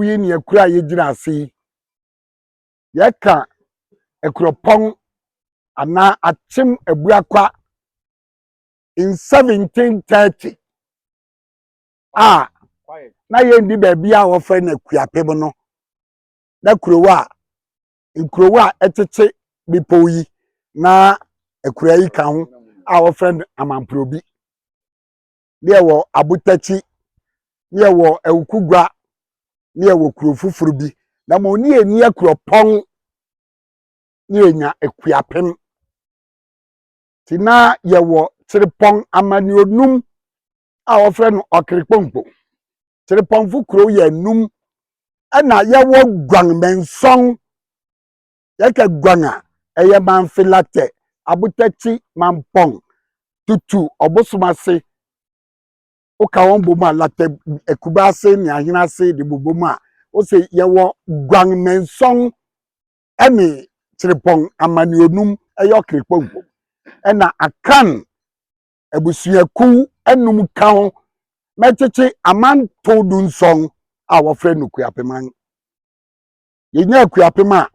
Biako yi ne akuro a yɛgyina ase yi. Yɛka akuropɔn anaa akyem abuakwa in 1730 a na yɛndi baabi a wɔfrɛ no akuapem no na kurow a nkurow a ɛtete bepɔw yi na akura yi ka ho a wɔfrɛ no amanporobi. ne yɛwɔ Abotakyi, ne yɛwɔ Awukugua, ne yɛwɔ kuro foforɔ bi. Na mmom ne yɛni Akuropɔn, ne yɛnya Akuapem. Nti na yɛwɔ Kyerepɔn amanneɛ num a wɔfrɛ no Ɔkerepɔnkpo. Kyerepɔnfo kuro yɛ num, ɛna yɛwɔ Guangmensong Yɛka guan a, ɛyɛ Manfilacte, abotakyi mampɔn, tutu, ɔbosom ase. Woka wɔn bom a, lacte akuba ase ne ahene ase de bobom a, wose yɛwɔ guan nnanson ne kyerepɔn amanneonum, ɛyɛ ɔkrepɔ bom. Ɛna akan abusuakuw anum ka ho mɛkyekye amanto dunsɔn a wɔfrɛ no kuapeman. yɛnya akuapem a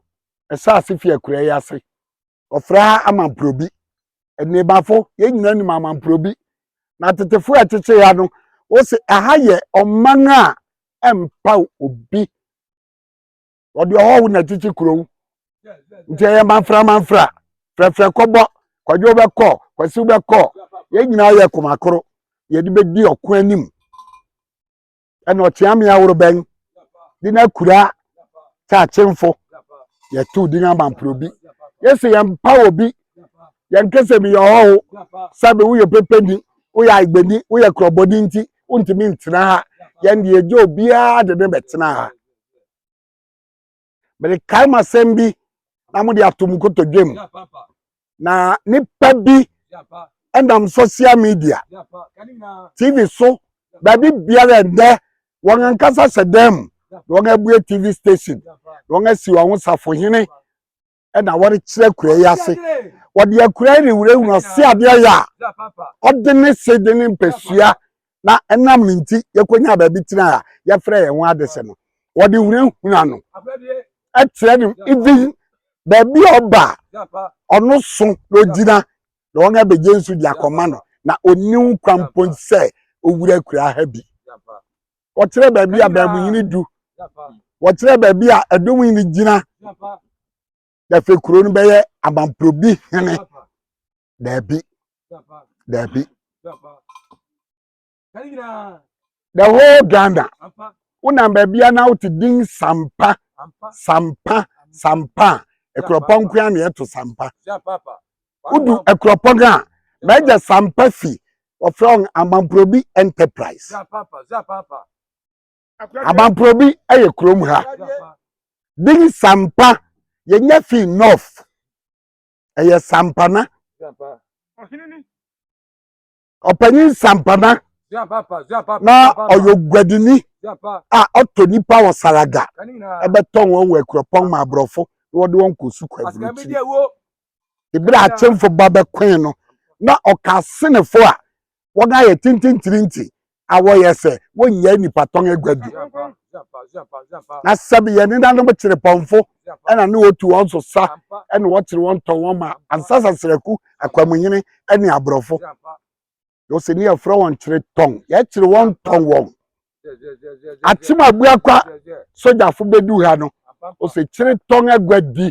ɛhyɛ ase fi akuraa yi ase ɔfrɛ ha amanporobi nnebafo yɛn nyinaa nim amanporobi na tetefo a ɛtete ha no wɔsi ɛha yɛ ɔman a ɛmpa obi wɔde ɔhɔho na ɛtete kurow nti ɛyɛ manfra manfra frɛfrɛ kɔbɔ kwadwo bɛkɔ kwasiw bɛkɔ yɛn nyinaa yɛ komakoro yɛde bɛdi ɔko anim ɛna ɔtea me ahoro bɛn de no akura kyakyemfo yɛtow din amamporo bi yɛsɛ yɛmpa wɔ bi yɛnka sɛ meyɛ ɔhɔho sɛbe woyɛ pepeni woyɛ agbani woyɛ korɔbɔni nti wontumi ntena ha yɛn deɛ gye obiara de ne bɛtena ha mede kae mo asɛm bi na mode ato mu kotodwe mu na nipa bi ɛnam social media tv so baabi biara ɛdɛ wɔn ankasa hyɛ dan mu na wɔn abue tv station na wɔn asi wɔn ho safohene ɛna wɔrekyerɛ akura yi ase wɔde akura yi rewurawura se adeɛ yɛ a ɔde ne se de ne mpɛsua na ɛnam ne nti yɛkɔnya baabi tena a yɛfrɛ yɛn ho ade sɛ no wɔde hunahuna no ɛkyerɛ no ibi baabi a ɔba ɔno so na ɔgyina na wɔn abɛgye nso de akɔma no na ɔniw kwan mpo sɛ owura akura ha bi wɔkyerɛ baabi a baabunyini du wɔkyerɛ baabi a ɛdɔm nyini gyina dɛfɛ kuro no bɛyɛ amanprobi hene daabi daabi the whole ghana wonam baabi a na wote din sampa sampa sampa ɛkorɔpɔn nkoa na ɛto sampa wodu akuropɔn a m'agya sampa fi wɔfrɛ wɔn amampurobi enterprise amampurobi yɛ kurom ha din sampa yɛnya fi north ɛyɛ sampana ɔpanyin nsampana na ɔyɛ oguadini a ɔtɔ nipa wɔ saraga ɛbɛtɔn wɔn wɔ akuropɔn ma aborɔfo na wɔde wɔn kɔ sukuu aburukyiri ebere akyɛnfo ba bɛkɔn no na ɔka asenefo a wɔn ayɛ tintintirinti a wɔyɛ sɛ wɔnyɛ nipa tɔn aguadi na sɛbi yɛn nenanom kyerepɔnfo ɛna ne wɔtu wɔn so sa ɛna wɔkyere wɔn tɔ wɔn ma ansa sasraku akwamunyini ɛne aborɔfo yɛsɛ ne yɛfrɛ wɔn kyere tɔn yɛkyere wɔn tɔn wɔn akyem abuakwa sogyafo bɛdu ha no ɔsɛ kyere tɔn agua di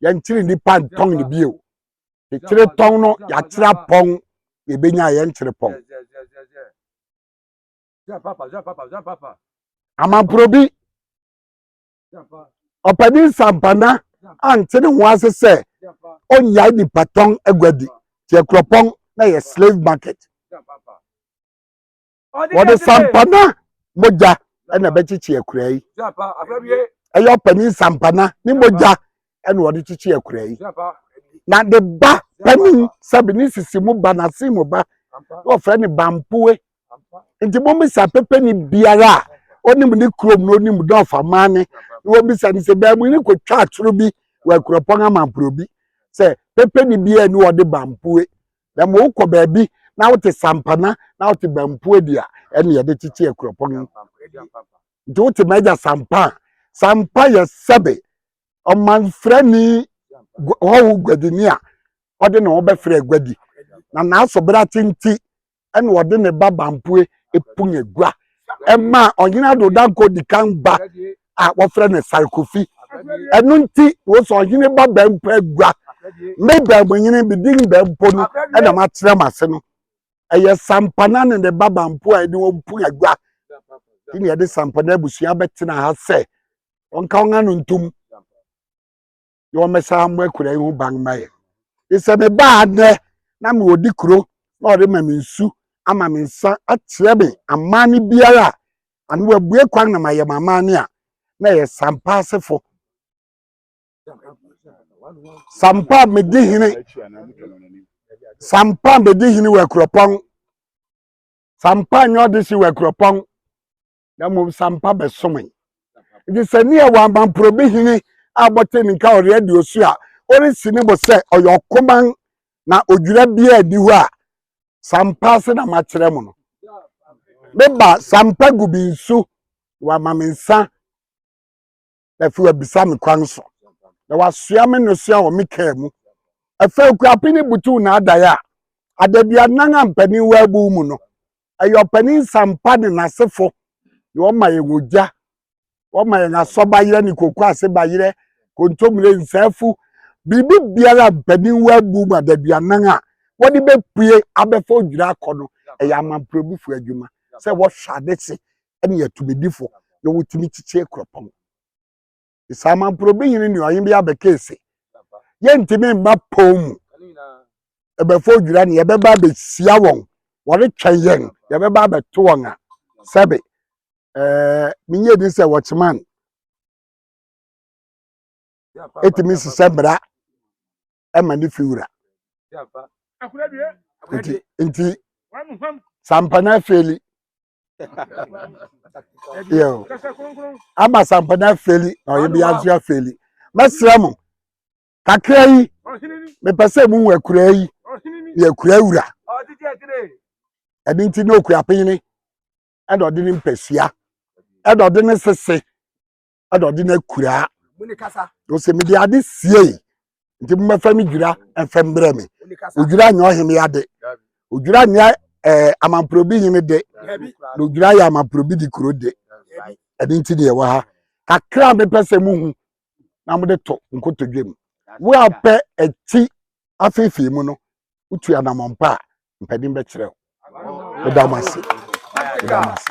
yɛnkyere nnipa ntɔn ne bio kyere tɔn no yɛakyerɛ apɔn yɛbɛnya yɛnkyere pɔn amamporobi ɔpanin sampana ante ne ho ase sɛ ɔnyae nipa tɔn aguadi tiɛ kuropɔn na yɛ slave market wɔde sampana mogya ɛna ɛbɛkyekye akura yi ɛyɛ ɔpanin sampana ne mogya ɛna ɔde kyekye akura yi na ne ba panin sɛbi ne sisi mu ba n'ase mu ba na ɔfrɛ ne bampoe nti mo bisa pɛpɛni biara a ɔnim ne kurom na ɔnim dɔfa man ne na wɔn bisa ne sɛ baamu ne kɔ twa atoro bi wɔ akuropɔn amampuro bi sɛ pɛpɛni biara ni wɔde bampue na mo kɔ baabi na wote sampana na wote bampue di a ɛne yɛde kyekye akuropɔn nti wote mɛgya sampa sampa yɛ sɛbe ɔmanfrani hɔho guadini a ɔde ne ho bɛfrɛ guadi na n'asobra tenti ɛna ɔde ne ba Bampoe Epunyegua ɛmaa ɔhene Ado Dankwa Odikan ba a wɔfrɛ no Sare Kofi ɛno nti wɔsɛ ɔhene ba Bampo Agua me Bampohene me din Bampo no ɛna makyerɛ m ase no ɛyɛ Sampana ne ne ba Bampo a ɛde wɔn Punyegua ɛna yɛde Sampana abusua bɛtena ha sɛ wɔnka wɔn ano ntom na wɔmmɛsa mmɔ akuraa yi ho ban mma yɛn. Sɛ mebaa nnɛ na mewɔ di kuro na wɔde ma me nsu ama me nsa akyerɛ me amanne biara a ano wɔabue kwan na mayɛ me amanne a, na ɛyɛ sampa asefo. Sampa medi hene sampa medi hene wɔ akuropɔn sampa nyɛ ɔde si wɔ akuropɔn na mmom sampa bɛsomee. Nti sɛ ne yɛ wɔamampuro bi hene a bɔte ne nka ɔreɛ de osu a ɔresi ne bo sɛ ɔyɛ ɔkoman na odwira biara di hɔ a sampa ase na makyerɛ mo no. Meba sampa gu bi nsu wɔama me nsa na afei wabisa me kwan so na wasoa me nosua wɔ me kaa mu ɛfɛ okurape ne butuw n'adae a adaduanan a mpanin wɔ abu mu no ɛyɛ ɔpanin sampa ne n'asefo na wɔma yɛn ogya wɔma yɛn asɔbayerɛ ne koko ase bayerɛ kontomire nsaafu biribi biara a mpanin wɔ abu mu adaduanan a wɔde bɛpue abɛfa odwira akɔ no ɛyɛ amamporobufoɔ adwuma sɛ wɔhwɛ ade se ɛne yɛ tumidifo na wotumi kyekyɛ kuropɔn. Saa mamporɔbi hene ne ɔhen bi abɛkee se, yɛntumi mma pɔn mu. Ɛbɛfo odwira ne yɛbɛba abɛhyia wɔn. Wɔretwɛn yɛn, yɛbɛba abɛto wɔn a. Sɛbe, ɛɛ, menyɛ din sɛ wɔkyeman. Ɛtumi sesɛ mmara. ma ne fi wura nti nti sampana afeli yo ama sampana afeli na ɔyɛ bi aso afeli mɛsrɛ mo kakra yi mepɛ sɛ mu wɔ akura yi yɛ akura wura ɛno nti na okura pene ɛna ɔde ne mpasua ɛna ɔde ne sese ɛna ɔde no akuraa ɔsɛ mede ade siei nti mmɛfa me dwira ɛfɛ mbrɛ me odwira nyɛ ɔhene ade odwira nyɛ ɛɛ eh, amamporobi hene de na odwira yɛ amamporobi de kuro de ɛde nti deɛ wɔ ha kakra a mepɛ sɛ mo hu na mo de to nkotodwe mu wo a pɛ ɛti afeefee mu no wotu anamɔmpa a mpanin bɛkyerɛ wo ɛda mo ase ɛda mo ase.